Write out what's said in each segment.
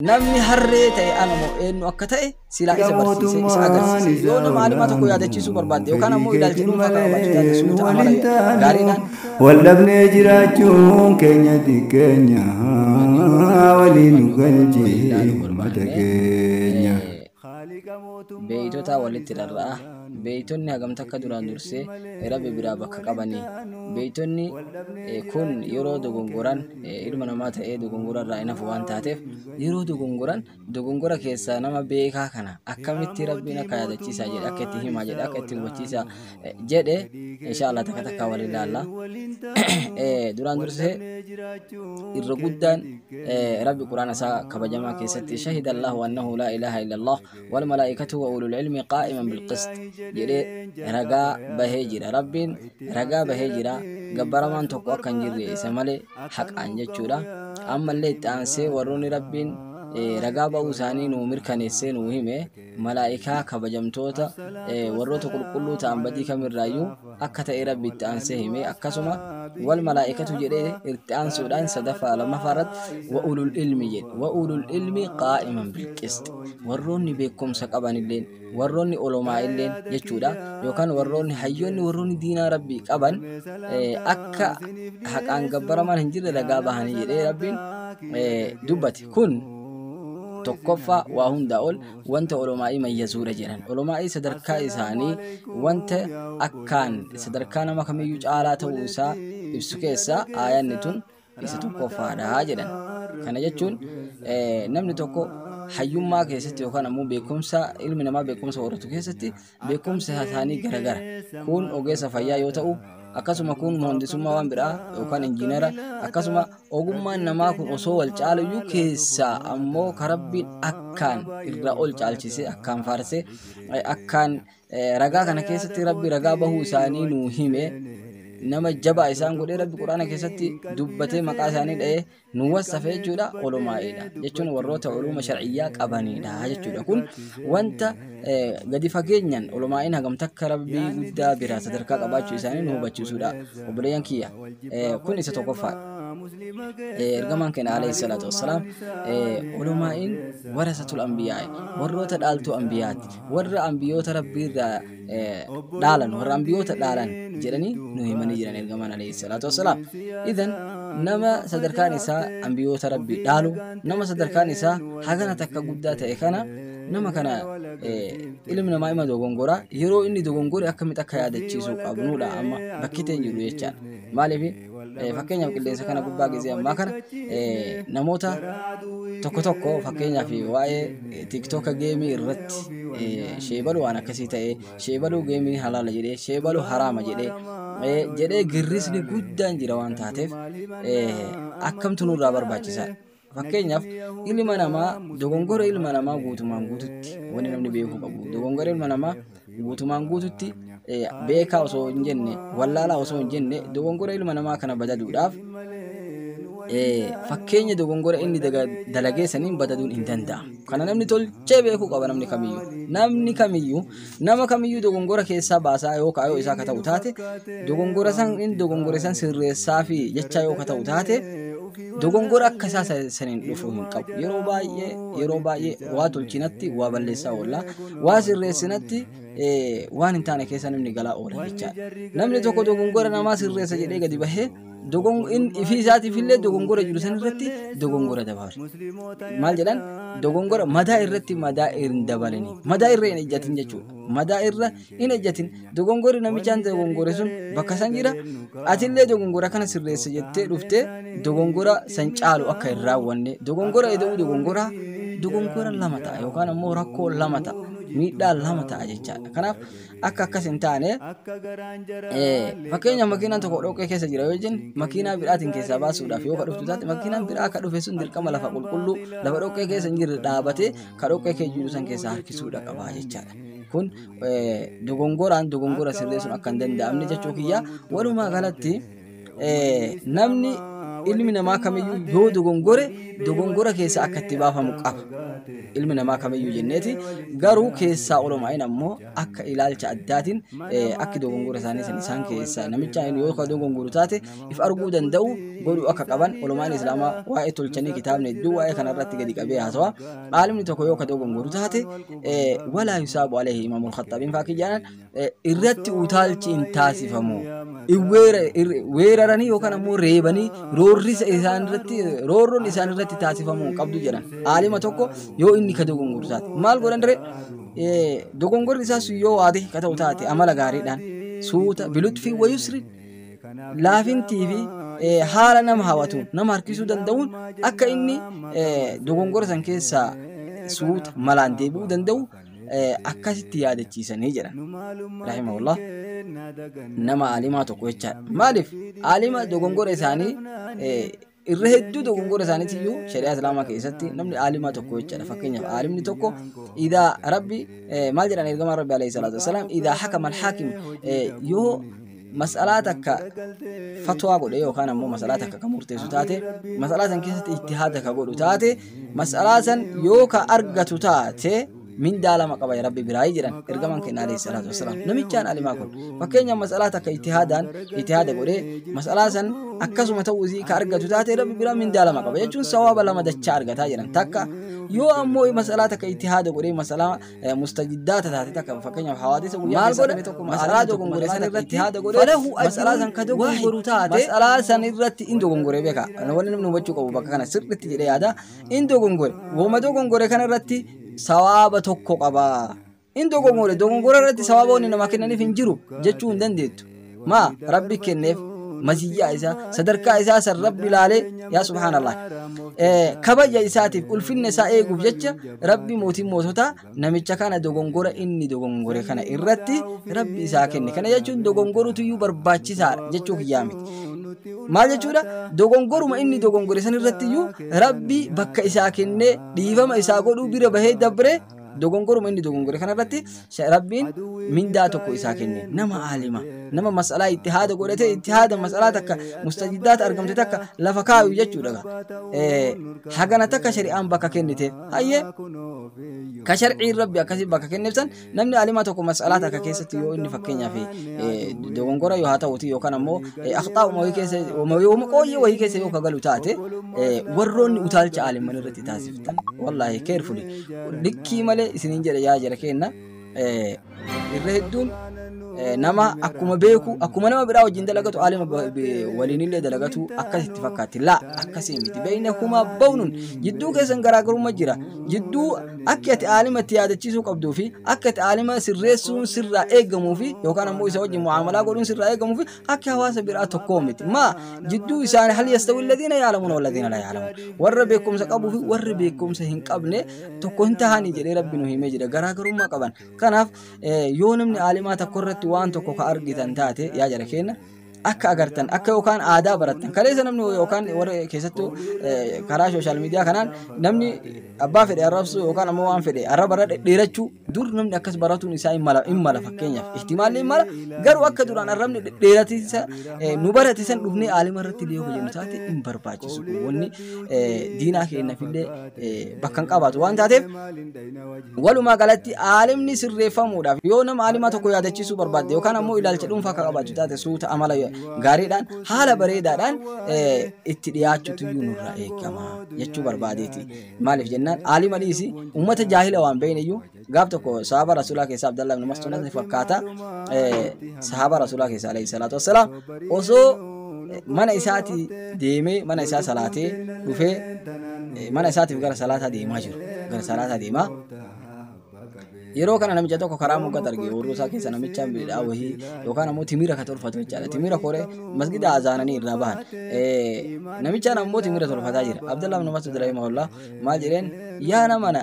Namni harree ta'e ana moo eenyu akka ta'e silaa isa barsiisee isa agarsiise. Yoo nama alimaa tokko yaadachiisuu barbaadde yookaan ammoo ilaalcha dhuunfaa kan qabaachuu taate suuta amala gaariidhaan Wallabnee jiraachuun keenya xiqqeenya waliin nu galchee uummata keenya. Beeytotaa walitti rarra'a. Beeytonni hagam takka duraan dursee Rabbi biraa bakka qabani. Beeytonni kun yeroo dogongoran ilma namaa ta'ee dogongora irraa hin hafu waan taateef yeroo dogongoran dogongora keessaa nama beekaa kana akkamitti Rabbiin akka yaadachiisaa jedhe akka itti himaa jedhe akka itti hubachiisaa jedhe inshaallah takka takka wal ilaalla duraan dursee irra guddaan rabbi quraana isaa kabajamaa keessatti shahida allahu annahu laa ilaaha illa allah wal malaa'ikatu wa ulul ilmi qaa'iman bilqist jedhee ragaa bahee jira rabbiin ragaa bahee jira gabbaramaan tokko akka hin jirre isa malee haqaan jechuudha ammallee itti aansee warroonni rabbiin ragaa ba'uu isaanii nuu mirkaneessee nuu hime Malaa'ikaa kabajamtoota warroota qulqulluu ta'an badii kamirraayyuu akka ta'e rabbi itti aansee hime akkasuma wal malaa'ikatu jedhee itti aansuudhaan sadaffaa lammaffaa irratti wa'ulul ilmi jedhe wa'ulul ilmi qaa'iman bilqisti warroonni beekumsa qabanilleen warroonni olomaa illeen jechuudha yookaan warroonni hayyoonni warroonni diinaa rabbii qaban akka haqaan gabbaramaan hin jirre ragaa bahanii jedhee rabbiin dubbate. Kun tokkoffaa waa hundaa ol wanta olomaa'ii mayyazuudha jedhan. Olomaa'ii sadarkaa isaanii wanta akkaan sadarkaa nama kamiyyuu caalaa ta'uu isaa ibsu keessaa aayanni tun isa tokkoffaadha jedhan. Kana jechuun namni tokko hayyummaa keessatti yookaan ammoo beekumsa ilmi namaa beekumsa horatu keessatti Beekumsi hasaanii garagara. Kuun ogeessa fayyaa yoo ta'u, akkasuma kuun moondisummaa waan biraa yookaan injiinara akkasuma ogummaan namaa kun osoo wal caaluyyuu keessaa ammoo karabbiin akkaan irraa ol caalchisee akkaan faarsee akkaan ragaa kana keessatti rabbi ragaa bahuu isaanii nuu hime nama jabaa isaan godhee rabbi quraana keessatti dubbatee maqaa isaanii dha'ee nu wassafe jechuudha olomaa'iidha jechuun warroota uluuma shar'iyyaa qabaniidha jechuudha kun wanta gadi fageenyan olomaa'iin hagam takka rabbii guddaa biraa sadarkaa qabaachuu isaanii nu hubachiisuudha obboleeyyan kiyya kun isa tokkoffaa ergamaan keenya alayhi salaatu wassalaam olomaa'iin warasatul anbiyaa'i warroota dhaaltuu anbiyaati warra anbiyoota rabbii irraa dhaalan warra ambiyoota dhaalan jedhanii nu himanii jiran ergamaan alayhi salaatu wassalaam idan nama sadarkaan isaa ambiyoota rabbi dhaalu nama sadarkaan isaa hagana takka guddaa ta'e kana nama kana ilmi namaa ima dogongora yeroo inni dogongore akkamitti akka yaadachiisuu qabnuudha amma bakki ta'e jiru jechaadha maaliif Fakkeenyaaf qilleensa kana gubbaa gizee ammaa kana namoota tokko tokko fakkeenyaaf waa'ee tiktoka geemii irratti sheebalu waan akkasii ta'ee sheebaluu geemii halaala jedhee sheebalu haraama jedhee jedhee girrisni guddaan jira waan taateef akkamtu nurraa barbaachisaa Fakkeenyaaf ilma namaa dogongora ilma namaa guutumaan guututti wanti namni beekuu qabu dogongora ilma namaa guutumaan guututti eh, beekaa osoo hin jenne wallaalaa osoo hin jenne dogongora ilma namaa kana badaduudhaaf eh, fakkeenya dogongora inni daga- dalageessaniin badaduun hin danda'amu. Kana namni tolchee beekuu qaba namni kamiyyuu. Namni kamiyyuu Nama kamiyyuu dogongora keessaa baasaa yoo kaayoo isaa ka ta'u taate, dogongora san in dogongore san sirreessaa fi jechaa yoo ka ta'u taate, dogongora akka isaa sa- saniin dhufu hin qabu. Yeroo baay'ee yeroo baay'ee waa tolchinatti waa balleessaa oolla. Waa sirreessinatti eh, waan hin taane keessa namni galaa oola jechaadha. Namni tokko dogongora namaa sirreessa jedhee gadi bahee ifii isaatiif illee dogongora jiru san irratti dogongora dabalu. Maal jedhan dogongora madaa irratti madaa hin dabalani. Madaa irra hin ejjatin jechuudha. Madaa irra hin ejjatin dogongorri namichaan dogongore sun bakka san jira. Ati illee dogongora kana sirreessa jettee dhuftee dogongora san caalu akka hin raawwanne dogongora eda'uu dogongora dogongora lama ta'a yookaan ammoo rakkoo lama ta'a miidhaa lama ta'a jechaadha. Kanaaf akka akkas hin taane fakkeenya makiinaan tokko dhoqqee keessa jira yoo jennu makiinaa biraatiin keessaa baasuudhaaf yoo kadhuftu taate makiinaan biraa akka dhufe sun dirqama lafa qulqulluu lafa dhoqqee keessa hin jirre dhaabatee ka dhoqqee keessa jiru san keessaa harkisuudha qabaa jechaadha. Kun dogongoraan dogongora sirreessuun akka hin danda'amne jechuu kiyya walumaa galatti namni ilmi namaa kamiyyuu yoo dogongore dogongora keessa akka itti baafamu qaba. Ilmi namaa kamiyyuu jenneeti garuu keessaa olumaa'in ammoo akka ilaalcha addaatiin akki dogongora isaanii san isaan keessaa namicha yoo ka dogongoru taate if arguu danda'u godhuu akka qaban olumaan islaamaa waa'ee tolchanii kitaabni hedduu waa'ee kana irratti gadi qabee haasawa. Aalimni tokko yoo ka dogongoru taate walaa yusaabu aleehi imaamul khaxxaabiin faakii jedhan eh, irratti utaalchi hin taasifamu. In weera- ir- Weeraranii yookaan ammoo reebanii roorrisa isaan irratti roorroon isaan irratti taasifamuu hin qabdu jedhan. Aalima tokko yoo inni ka dogongorsu taate maal godhan diree Eh, dogongorri isaa sun yoo waade ka ta'u taate amala gaariidhaan suuta bilutfii wayusri laafintii fi eh, haala nama hawatu nama harkisuu danda'uun akka inni eh, dogongora san keessaa suuta malaan deebi'uu danda'u akkasitti yaadachiisanii jedhan rahimahullah nama aalimaa tokko jechaadha maaliif aalima dogongora isaanii irra hedduu dogongora isaaniitti iyyuu shari'aa islaamaa keessatti namni aalimaa tokko jechaadha fakkeenyaaf aalimni tokko idaa rabbi maal jedhan ergamaan rabbi alayhi salaatu wasalaam idaa hakama alhaakim yoo mas'alaa takka fatwaa godhe yookaan ammoo mas'alaa takka ka murteessu taate mas'alaa san keessatti ijtihaada ka godhu taate mas'alaa san yoo ka argatu taate mindaa lama qaba ya rabbi biraayii jedhan ergamaan keenya alayhi salaatu wasalaam namichaan alimaa kun fakkeenya mas'alaa takka ijtihaadaan ijtihaada godhe mas'alaa san akkasuma ta'uu isii ka argatu taate rabbi biraa mindaa lama qaba jechuun sawaaba lama dachaa argataa jedhan takka yoo ammoo mas'alaa takka ijtihaada godhe mas'alaa mustajiddaata taate takka fakkeenyaaf hawaadisa guyyaa maal keessa godhe ta'e tokko masalaa masalaa dogongore san irratti ittihaada godhe falahu ajruun masalaa san ka dogongoru waahid. taate masalaa san irratti in dogongore beeka wanni namni hubachuu qabu bakka kana sirriitti jedhee yaada in dogongore woma dogongore kana irratti sawaaba tokko qaba in dogongore dogongora irratti sawaaba wanni namaa kennaniif hin jiru jechuu hin dandeettu maa rabbi kenneef maziyyaa isaa sadarkaa isaa san rabbi laalee yaa subhaanallah kabaja isaatiif ulfinna isaa eeguuf jecha rabbi mootiin moototaa namicha kana dogongora inni dogongore kana irratti rabbi isaa kenne kana jechuun dogongorutu iyyuu barbaachisaadha jechuu kiyyaa miti maal jechuudha dogongoruma inni dogongore san irratti iyyuu rabbi bakka isaa kennee dhiifama isaa godhuu bira bahee dabree dogongoruma inni dogongore kanarratti sha- rabbiin mindaa tokko isaa kenne nama aalima nama mas'alaa itti haada godhatee itti haada mas'alaa takka mustajiddaata argamte takka lafa kaayu jechuudha ga. Eh, hagana takka shari'aan bakka kennite hayyee ka sharciin rabbi akkasii bakka kenneef san namni alimaa tokko mas'alaa takka keessatti yoo inni fakkeenyaaf eh, dogongora yoo haa ta'uti yookaan ammoo eh, akhxaa uma wayii keessa uma wayii- uma qooyyee wayii keessa yoo ka galu taate eh, warroonni utaalcha aaliman irratti taasisu Tan wallaahi carefully likkii malee isiniin jedha yaa jara keenna eh, irra hedduun eh, nama akkuma beeku akkuma nama biraa wajjin dalagatu aalima ba- be- waliinillee dalagatu akkas itti fakkaatti laa akkasii miti beeyna kumaa bawnuun jidduu keessan garaagarummaa jira jidduu akka ati aalima itti yaadachiisuu qabduu fi akka ati aalima sirreessuun sirraa eegamuu fi yookaan ammoo isa wajjin mu'aamalaa godhuun sirraa eegamuu fi akka hawaasa biraa tokkoo miti maa jidduu isaanii hal yastawi alladhiina yaalamuun walladhiina la yaalamuun warra beekumsa qabuu fi warri beekumsa hin qabne tokko hin tahanii jedhee rabbi nu himee jira garaagarummaa qaban kanaaf yoo namni aalimaa tokko irratti waan tokko ka argitan taate yaa jara keenya akka agartan akka yookaan aadaa barattan kaleessa namni yookaan warra keessattuu karaa sooshaal miidiyaa kanaan namni abbaa fedhe arrabsu yookaan ammoo waan fedhe arraba irra dhedheerachuu Dur namni akkas baratuun isaa hin mala, hin mala fakkeenyaaf. Ihtimaalli hin mala. Garuu akka duraan arrabni dhedheeratiinsa eh, nu barate san dhufnee aalima irratti illee yoo fayyadnu taate hin barbaachisu. Wanni eh, diinaa keenyaaf illee eh, bakka hin qabaatu waan taateef walumaa galatti aalimni sirreeffamuudhaaf yoo nama aalimaa tokko yaadachiisuu barbaadde yookaan ammoo ilaalcha dhuunfaa akka qabaachuu taate suuta amala gaariidhaan haala bareedaadhaan eh, itti dhiyaachuutu iyyuu nurraa eegama jechuu barbaadeeti. Maaliif jennaan aalima dhiisi uummata jaahila waan beeyneyyuu gaaf tokko sahaaba rasuulaa keessaa Abdallah ibn Mas'ud ni fakkaata eh, sahaaba rasuulaa keessaa alayhi salaatu wassalaam osoo eh, mana isaati deemee mana isaa salaatee dhufee eh, mana isaatiif gara salaataa deemaa jiru gara salaataa deemaa Yeroo kana namicha tokko karaa moggaa arge oorruu isaa keessa namicha midhaa wahii yookaan ammoo timira ka tolfatu jechaadha. Timira koree masgida azaananii irraa bahan. Namichaan ammoo timira tolfataa jira. Abdallah ibn Mas'ud rahimahullah maal jedheen yaa namana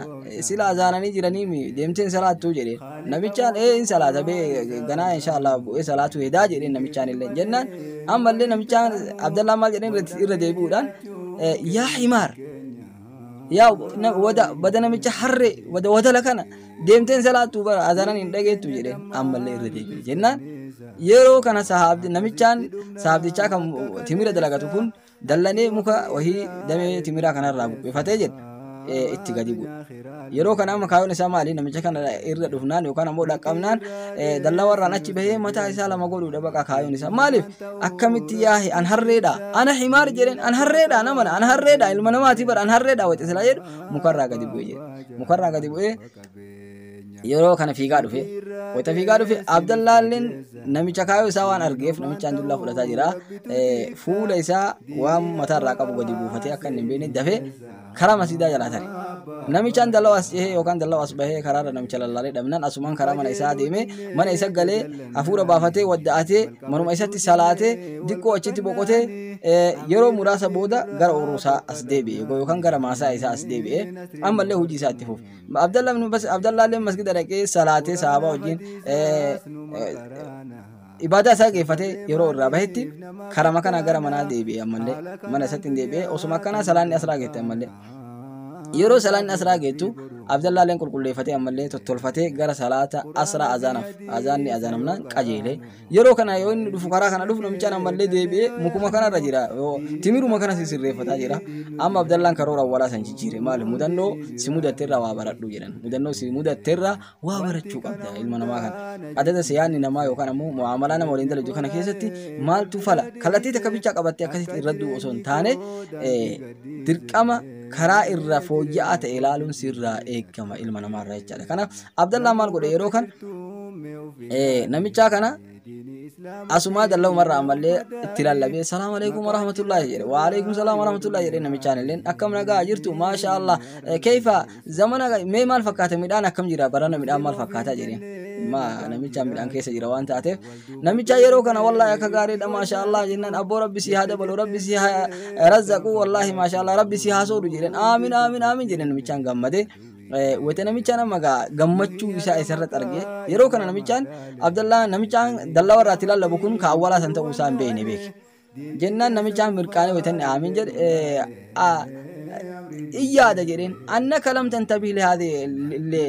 sila azaananii jiranii deemteen salaattuu jedheen. Namichaan ee in salaata bee ganaa inshaallah bu'ee salaatuu hedaa jedheen namichaan illee jennaan ammallee namichaan Abdallah maal jedheen irra deebi'uudhaan yaa himaar yaa na- wada bada namicha harree wada watala kana deemteen salaattu bara azanan hin dhageettu jedheen ammallee irra deebi'e jennaan yeroo kana sahaabdi namichaan sahaabdichaa kan timira dalagatu kun dallanee muka wahii damee timiraa kanarraa buqqifatee jedhe eh, itti gadi bu'e Yeroo kana amma kaayoon isaa maali? Namicha kana irra dhufnaan yookaan ammoo dhaqqabnaan dallaa warraan achi bahee mataa isaa lama godhuudha baqa kaayoon isaa. Maaliif? Akkamitti yaahe an harreedha. Ana himaar jedheen an harreedha namana an harreedha ilma namaati bara an harreedha waxa silaa jedhu mukarraa gadi bu'e jedhe. Mukarraa gadi bu'ee yeroo kana fiigaa dhufe. Wayita fiigaa dhufe Abdallaalleen namicha kaayoo isaa waan argeef namichaan dullaa fudhataa jira. Fuula isaa waan mataarraa qabu gadi buufatee akka inni hin beekne dafee Karaa masiidaa jalaa tare. Namichaan dallawa as cehee yookaan dallawa as bahee karaarra namicha lallaalee dhabnan asumaan karaa mana isaa adeemee mana isa galee hafuura baafatee wadda'atee manuma isatti salaatee diqqoo achitti boqotee yeroo muraasa booda gara ooruu isaa as deebi'e yookaan gara maasaa isaa as deebi'e ammallee hojii isaa itti fufe. Abdallaallee masgida dhaqee salaatee sahaabaa wajjin Ibaadaa isaa geeffatee yeroo irraa bahetti karama kanaa gara manaa deebi'e ammallee mana isatti hin deebi'e osuma akkanaa salaanni asraa geette ammallee yeroo salaanni asraa geettu Abdallaaleen qulqulleeffatee ammallee tottolfatee gara salaata asraa azaanaaf azaanni azaanamnaan qajeelee yeroo kana yoo inni dhufu karaa kana dhufu namichaan ammallee deebi'ee mukuma kanarra jira timiruma kana sirreeffataa jira amma Abdallaan karoora awwalaa san jijjiire maali mudannoo si mudatteerra waa baradhu jedhan mudannoo si mudatteerra waa barachuu qabda ilma namaa kana adada siyaanni namaa yookaan ammoo mu'aamalaa nama waliin dalagdu kana keessatti maaltu fala kallattii takka bichaa qabattee akkasitti irra du'u osoo hin taane dirqama karaa irra fooyya'aa ta'e ilaaluun sirraa eegama ilma namaa irraa jechaadha kanaaf abdallaa maal godhe yeroo kan namichaa kana asumaa dalla'u marra ammallee itti lallabee salaam alaikum warahmatullaahi jedhe wa alaikum salaam warahmatullaahi jedhe namichaan illeen akkam nagaa jirtu maasha allah keeyfa zamana mee maal fakkaata midhaan akkam jira barana midhaan maal fakkaata jedhe ma namichaan midhaan keessa jira waan taateef namicha yeroo kana wallaahi akka gaariidha maasha allah jennaan abboo rabbi si haa dabalu rabbi si haa razzaqu wallaahi maasha allah rabbi si haa soodu jedhen aamin aamin aamin jedhe namichaan gammade Wayita namichaan amma gaa gammachuu isaa isarratti argee yeroo kana namichaan Abdallaa namichaan dallaa warraatti lallabu kun ka awwalaa san ta'uu isaa hin beekne beeke. Jennaan namichaan mirqaanee wayita inni aamiin jedhe iyyaada jedheen anna kalam tantabii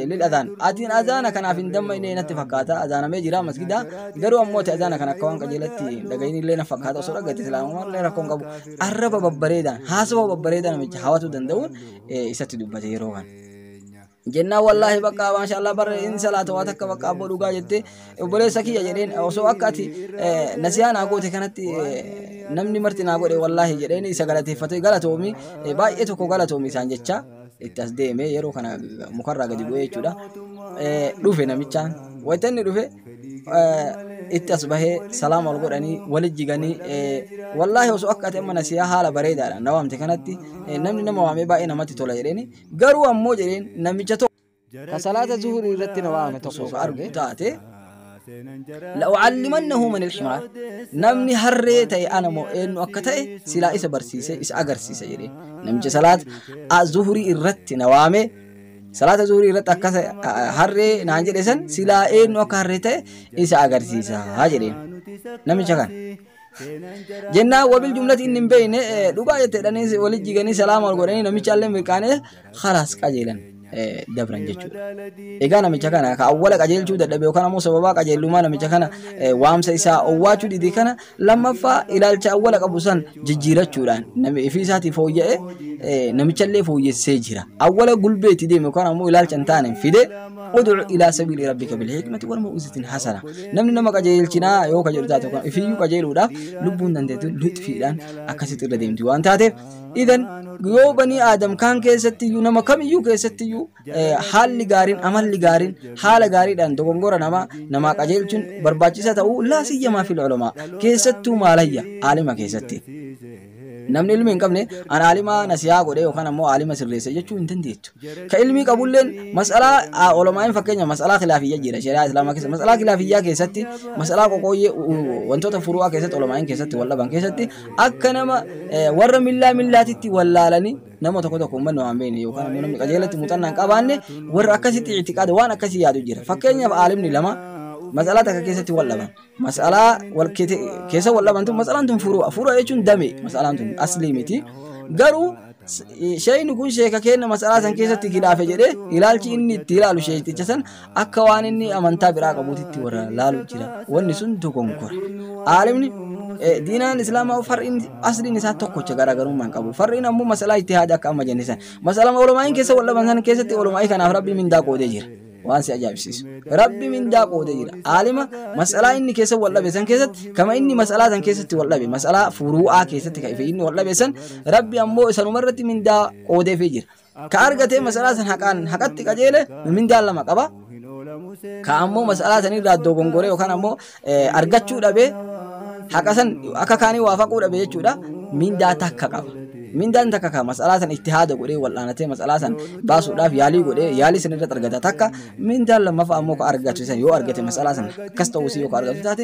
lil azaan atiin azaana kanaaf hin dammaqne natti fakkaata azaanamee jira masgida garuu ammoo ta'e azaana kana akka waan qajeelatti dhaga'iin illee na fakkaata osoo dhaggeette islaamummaa illee rakkoon qabu arraba babbareedaan haasawaa babbareedaa namicha hawatu danda'uun isatti dubbate yeroo kan jennaan wallaahi bakka maashaallah barre in salaata waa takka bakka abboo dhugaa jette obboleessa kiyya jedheen osoo akka ati nasiyaa naa goote kanatti namni marti naa godhe wallaahi jedheen isa galateeffate galatoomi baay'ee tokko galatoomi isaan jecha itti as deeme yeroo kana mukarraa gadi bu'ee jechuudha dhufe namichaan wayita inni dhufe itti as bahee salaama wal godhanii wali jiganii wallaahi osoo akka ati amma nasiyaa haala bareedaadha na waamte kanatti namni nama waamee baay'ee namatti tola jedheeni garuu ammoo jedheen namicha tokko ka salaata zuhurii irratti na waame tokko ka arge taate la'ucallimannahu man ilximaar namni harree ta'e ana moo eenyu akka ta'e silaa isa barsiise isa agarsiisa jedheen namicha salaata zuhurii irratti na waamee salaata zuhurii irratti akka harree naan jedhe san silaa eenyu akka harree ta'e isa agarsiisa haa jedheen namicha kana. Jennaan wabil jumlati inni hin beekne dhugaa jetteedhanii wali jiganii salaama ol godhanii namicha illee mirqaanee halaas qajeelan dabran jechuudha. Egaa namicha kana ka awwala qajeelchuu dadhabe yookaan ammoo sababaa qajeellumaa namicha kana waamsa isaa owwaachuu dide kana Lammaffaa ilaalcha awwala qabu san jijjiirachuudhaan nami ifii isaatii fooyya'e eh, namichallee fooyyessee jira. Awwala gulbeetti deeme yookaan ammoo ilaalcha hin taane fide ud'u ilaa sabiili rabbika bil hikmati wal mau'izatin hasana. Namni nama qajeelchinaa yoo ka jedhu taate yookaan ifiyyuu qajeeluudhaaf lubbuun dandeetu lixfiidhaan akkasitti irra deemti waan taateef idan yoo banii aadam kaan keessatti iyyuu nama kamiyyuu keessatti iyyuu haalli gaariin amalli gaariin haala gaariidhaan dogongora namaa namaa qajeelchuun barbaachisaa ta'uu laa siyyamaa fil ulamaa keessattuu maalayya aalima keessatti namni ilmi hin qabne an aalimaa nasiyaa godhe yookaan ammoo aalima sirreessa jechuu hin dandeettu ka ilmii qabulleen mas'alaa olomaa'iin fakkeenya mas'alaa kilaafiyyaa jira shari'aa islaamaa keessa mas'alaa kilaafiyyaa keessatti mas'alaa qoqooyyee wantoota furu'aa keessatti olomaa'iin keessatti wal dhaban keessatti akka nama warra millaa millaatitti wallaalanii Nama tokko tokko uummanni waan beekne yookaan ammoo namni qajeelatti muuxannaa hin qabaanne warra akkasitti ictiqaada waan akkasii yaadu jira. Fakkeenyaaf aalimni lama mas'alaa takka keessatti wal dhaban. Mas'alaa wal keete- keessa wal dhaban tun mas'alaan tun furu'a. Furu'a jechuun dame mas'alaan tun aslii miti. Garuu s- sheeyni kun sheeka keenya mas'alaa san keessatti gilaafe jedhee ilaalchi inni itti ilaalu sheeyticha san Akka waan inni amantaa biraa qabuutitti warra laalu jira. Wanni sun dogonkora. Aalimni eh, diinaan islaamaa far'iin asliin isaa tokkocha garaagarummaan qabu. Far'iin ammoo masalaa itti haada akka amma jenne san. Masalama olomaa'iin keessa wal dhaban san keessatti olomaa'ii kanaaf rabbii mindaa qoodee jira. Waan si ajaa'ibsiisu. Rabbi mindaa qoodee jira. Aalima masalaa inni keessa wal dhabe san keessatti kama inni masalaa san keessatti wal dhabe masalaa furuu'aa keessatti kan inni wal dhabe san rabbi ammoo isanumarratti mindaa qoodeefii jira. Ka argatee masalaa san haqaan haqatti qajeele mindaan lama qaba. Ka ammoo masalaa san irraa dogongoree yookaan ammoo argachuu dhabee haqa san akka kaanii waa faquu dhabe jechuudha mindaa takka qaba. Mindaan takka ka masalaa san itti haada godhee wal'aanatee masalaa san baasuudhaaf yaalii godhee yaalii san irratti argata takka mindaan lammaffaa ammoo ka argatu san yoo argate masalaa san akkas ta'uu isii yoo ka argatu taate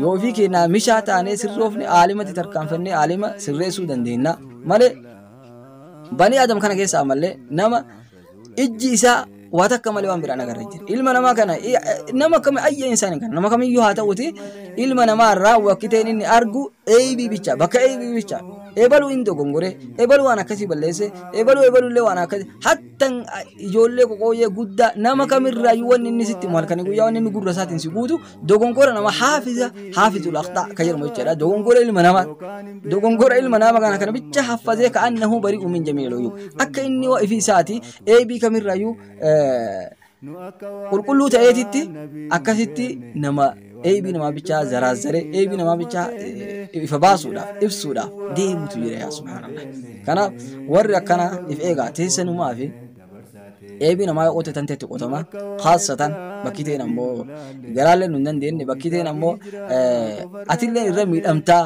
Yoo ofii keenyaa mishaa taanee sirroofne aalimatti tarkaanfannee aalima sirreessuu dandeenya malee banii adam kana keessaa malee nama ijji isaa waa takka malee waan biraan agarra jira. Ilma namaa kana nama akkami ayya insaan kana nama kamiyyuu haa ta'uti ilma namaa irraa wakkiteen inni argu eebii bicha bakka eebii bicha eebaluu hin dogongore eebaluu waan akkasii balleesse eebaluu eebaluu illee waan akkasii Tan a- ijoollee qoqooyyee guddaa nama kamirraayyuu wanni inni sitti himu halkanii guyyaa wanni inni gurra isaatiin si guutu dogongora nama haafiza haafizul aqxaa ka jedhamu jechaadha dogongora ilma namaa dogongora ilma nama kana kana bicha haffazee ka annahu bari'u min jamiil uyuub akka inni wa ifi isaati eebii kamirraayyuu eh, Qulqulluu ta'eetitti akkasitti nama eeybii namaa bichaa zaraazzaree eeybii namaa bichaa ifa baasuudhaaf ibsuudhaaf deemutu jira yaa subhaanallah. Kanaaf warri akkana if eegaa teessanumaa fi eeybii namaa yoo qotetan teetti qotama khaasatan bakki ta'een ammoo garaallee nu hin dandeenye bakki ta'een ammoo atillee irra miidhamtaa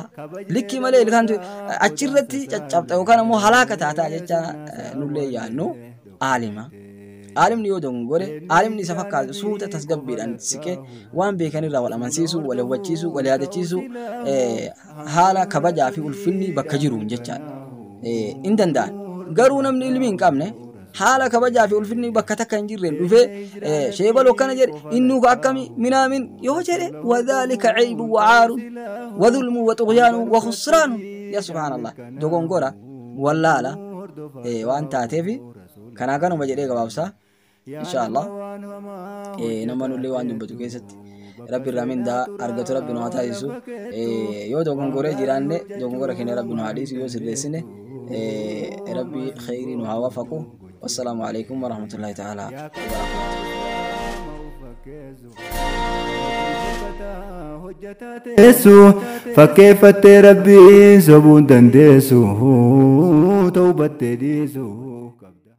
likkii malee ilkaan achirratti caccabxa yookaan ammoo halaaka taataa jecha nullee yaannu. aalima. Aalimni yoo dogongore, aalimni isa fakkaatu suuta tasgabbiidhaan siqee waan beekanirraa wal amansiisuu, wal hubachiisuu, wal yaadachiisuu haala kabajaa fi ulfinni bakka jiruun jechaadha. Hin danda'an. Garuu namni ilmi hin qabne haala kabajaa fi ulfinni bakka takka hin jirreen dhufee sheebal akkana jedhe innuu ka akkami minaamin yoo jedhe wadhaalika ceebu wacaaru wadhulmu waxuqyaanu wakhusraanu yaa subhaanallah dogongora wallaala eh, waan taateefi kanaa kanuma jedhee gabaabsa insha allah eh, nama nullee waan dubbatu keessatti rabbi irraa mindaa argatu rabbi nu haa taasisu eh, yoo dogongoree jiraanne dogongora keenya rabbi nu haa dhiisu yoo sirreessine eh, rabbi kheyrii nu haa waafaqu wassalaamu alaikum warahmatullahi ta'ala wabarakatuh teessu fakkeeffattee rabbiin sobuun dandeessu ta'uu battee dhiisu.